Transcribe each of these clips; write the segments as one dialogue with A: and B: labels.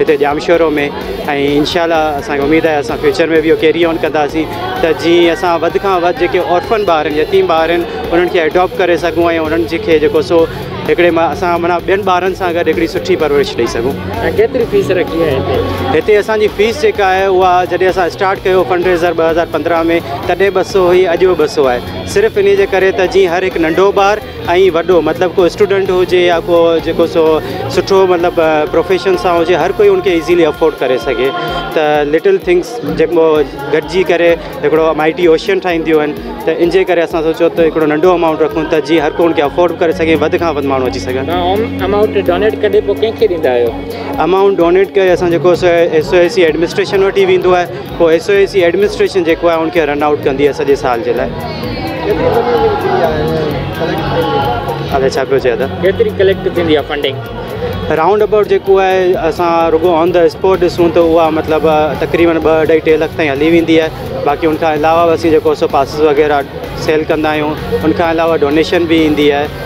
A: هتي ڄامشورو ۾ ۽ انشاء الله اسان کي اميد آهي اسان فيوچر ۾ به اهو ڪيري آن ڪنداسين ته جيئن اسان وڌ کان وڌ جيڪي اورفن ٻار آهن يتيم ٻار آهن انهن کي اڊاپٽ ڪري سگهون ۽ انهن جي کي جيڪو سو هڪڙي ماء اسان معنيٰ ٻين ٻارن سان گڏ هڪڙي سٺي پرورش ڏيئي سگهون ۽ ڪيتري فيس رکي
B: آهي هتي هتي اسان جي فيس
A: جيڪا آهي اها جڏهن اسان اسٽارٽ ڪيو فنڊ ريزر ٻه هزار پندرهن ۾ تڏهن ٻه سو هئي اڄ به ٻه سو آهي صرف انهي جي ڪري ته جيئن هر هڪ ننڍو ٻار ۽ وڏو مطلب ڪو اسٽوڊنٽ هجي يا ڪو جيڪو سو سٺو مطلب پروفيشن سان هجي هر ڪوئي ان کي ايزيلي افورڊ ڪري سگهي ته لٽل ٿنگس جيڪو گڏجي ڪري هڪڙو ايم آئي ٽي اوشين ٺاهينديون آهن ته ان جي ڪري اسان سوچو ته هڪڙو ننڍو امائونٽ رکون ته جي هر ڪو ان کي افورڊ ڪري سگهي وڌ کان وڌ ماڻهو اچي سگهن امائونٽ ڊونيٽ ڪري
B: پوء ڪنهن کي ڏيندا آهيو امائونٽ ڊونيٽ
A: ڪري اسان جيڪو سو S O A C administration وٽ ئي ويندو آهي پوء S O A C administration جيڪو آهي ان کي رن آئوٽ ڪندي آهي سڄي سال جي لاءراؤنڊ
B: ابائوٽ
A: جيڪو آهي اسان رڳو آن دا اسپاٽ ڏسون ته اها مطلب تقريبن ٻه اڍائي ٽي لک تائين هلي ويندي آهي باقي ان کان علاوه اسين جيڪو سو پاسز وغيره سيل ڪندا آهيون ان کان علاوه ڊونيشن بي ايندي آهي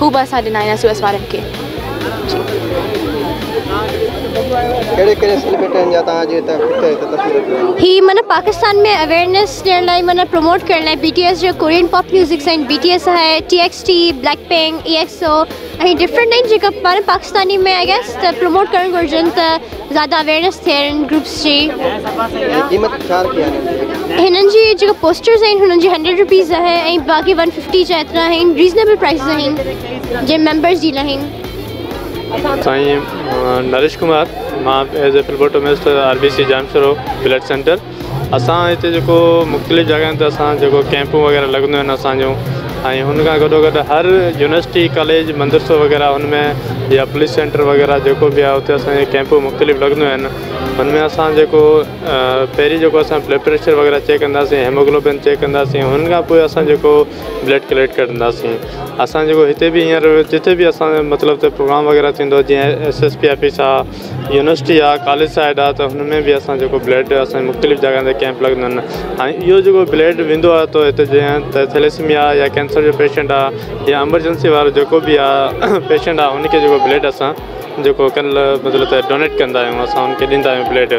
C: هو به اسان ڏنا هيا سوئس وارن کي
D: هي معنيٰ پاڪستان ۾ اويئرنيس ڏيڻ لاء معنيٰ پروموٽ ڪرڻ لاء بي ٽي ايس جو ڪورين پاپ ميوزڪس آهن بي ٽي ايس آهي T X T black pink E X O ۽ different آهن جيڪا معنيٰ پاڪستاني ۾ آئي گيس ته پروموٽ ڪرڻ گهرجن ته زياده اويرنس ٿئي انهن گروپس جي. ۽ قيمت ڇا رکي آهي انهن جي. هنن جي جيڪا پوسٽرز آهن هنن جي هنڊريڊ روپيز آهي ۽ باقي ون ففٽي جا ايترا آهن ريزنيبل پرائسز آهن جي ميمبرز جي لاهن.
E: سائين نريش ڪمار مان as a فلبوٽومسٽ R B C jam Shaurya blood centre. اسان هتي جيڪو مختلف جڳهن تي اسان جيڪو ڪئمپون وغيره لڳنديون آهن اسانجون ۽ هن کان گڏو گڏ هر يونيورسٽي ڪاليج مدرسو وغيره هن ۾ يا پوليس سينٽر وغيره جيڪو بي آهي اتي اسانجي ڪئمپون مختلف لڳنديون آهن هن ۾ اسان جيڪو پهرين جيڪو اسان بلڊ پريشر وغيره چيڪ ڪنداسين هيموگلوبن چيڪ ڪنداسين هن کان پوء اسان جيڪو بلڊ ڪليڪٽ ڪرنداسين اسان جيڪو هتي بي هينئر جتي بي اسان مطلب ته پروگرام وغيره ٿيندو جيئن ايس ايس پي آفيس آهي يونيورسٽي آ ڪاليج سائيڊ آ ته هن ۾ به اسان جيڪو بلڊ اسان جي مختلف جڳهن تي ڪيمپ لڳندا آهن هاڻي اهو جيڪو بلڊ ويندو آ تو هتي جيئن ته ٿيليسميا يا ڪينسر جو پيشنٽ آ يا امرجنسي وارو جيڪو به آ پيشنٽ آ هن کي جيڪو بلڊ اسان جيڪو ڪن مطلب ته ڊونيٽ ڪندا آهيون اسان هن کي ڏيندا آهيون بلڊ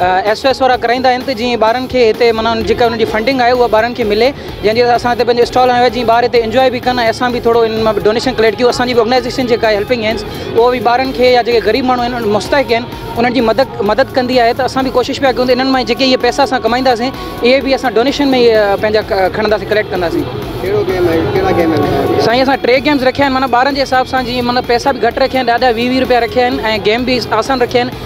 F: ايس او ايس وارا ڪرائيندا آهن ته جيئن ٻارن کي هتي معنيٰ جيڪا انهن جي فنڊنگ آهي اها ٻارن کي ملي جنهن جي اسان هتي پنهنجو اسٽال هنيو آهي جيئن ٻار هتي انجوائي به ڪن ۽ اسان به ٿورو انهن مان ڊونيشن ڪليڪٽ ڪيون اسان جي به آرگنائيزيشن جيڪا آهي هيلپنگ هينڊز اهو به ٻارن کي يا جيڪي غريب ماڻهو آهن مستحق آهن انهن جي مدد مدد ڪندي آهي ته اسان به ڪوشش پيا ڪيون ته انهن مان جيڪي اهي پيسا اسان ڪمائينداسين اهي به اسان ڊونيشن ۾ پنهنجا کڻنداسين ڪليڪٽ ڪنداسين ڪهڙو گيم آهي ڪهڙا گيم آهن سائين اسان ٽي گيمز رکيا آهن معنيٰ ٻارن جي حساب سان جيئن مطلب پيسا به گهٽ رکيا آهن ڏاڍا ويهه ويهه روپيا رکيا آهن ۽ گيم به آسان رکيا آهن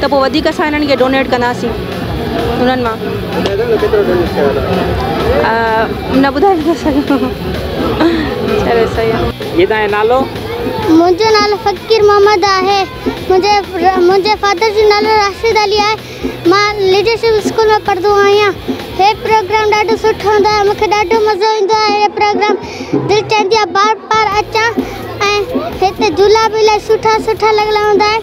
G: ته پوء وڌيڪ اسان انهن کي ڊونيٽ ڪنداسين انهن مان نه ٻڌائي نه سگهندو چلو صحيح آ. جي تنهنجو نالو؟
B: منهنجو
D: نالو فقير محمد آهي منهنجي فادر جو نالو راشد علي آهي مان ليڊرشپ اسڪول ۾ پڙهندو آهيان هي پروگرام ڏاڍو سٺو هوندو آهي مونکي ڏاڍو مزو ايندو آهي هي پروگرام دل چاهندي آهي بار بار اچان ۽ هتي جهولا به الاهي سٺا سٺا لڳل هوندا آهن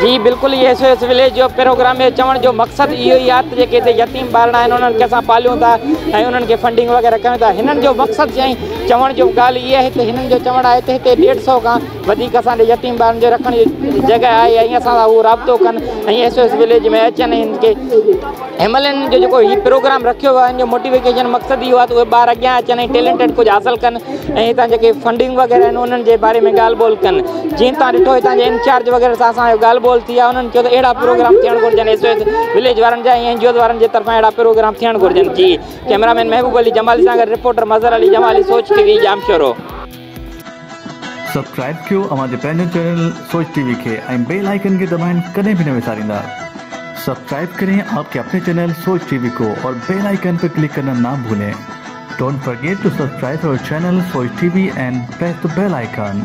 B: جي بلڪل A S O S village جو پروگرام ۾ چوڻ جو مقصد اهو ئي آهي ته جيڪي هتي يتيم ٻارڙا آهن انهن کي اسان پاليون ٿا ۽ انهن کي فنڊنگ وغيره ڪيون ٿا هنن جو مقصد جي چوڻ جو ڳالهه اهي آهي ته هنن جو چوڻ آهي ته هتي ڏيڍ سو کان وڌيڪ اسان ڏي يتيم ٻارن جو رکڻ جي جڳهه آهي ۽ اسان سان هو رابطو ڪن ۽ ايس او ايس وليج ۾ اچن ۽ هن کي ايم ايل اين جو جيڪو هي پروگرام رکيو ويو آهي ان جو موٽيوڪيشن مقصد اهو آهي ته اهي ٻار اڳيان اچن ۽ ٽيلنٽيڊ ڪجهه حاصل ڪن ۽ هتان جيڪي فنڊنگ وغيره آهن انهن جي باري ۾ ڳالهه ٻولهه ڪن جيئن تان ڏٺو هتان جي انچارج وغيره سان اسان جو ڳالهه ٻولهه ٿي آهي انهن چيو ته اهڙا پروگرام ٿيڻ گهرجن ايس او ايس وليج وارن جا ۽ اين جي اوز وارن جي طرفان اهڙا پروگرام ٿيڻ گهرجن جي ڪيمرا مين محبوب علي جمالي سان گڏ reporter Mazhar Ali Jamali Soch T V Jamshoro
H: subscribe ڪيو اوهان جي پنهنجو چينل سوچ ٽي وي کي ۽ بيل آئيڪن کي دٻائڻ ڪڏهن به نه وساريندا سبسڪرائب ڪرين آپ ڪي اپني چينل سوچ ٽي وي ڪو اور بيل آئيڪن پي ڪلڪ ڪرنا نا ڀولين ڊونٽ فرگيٽ ٽو سبسڪرائب اور channel Soch T V and press ته بيل آئيڪن.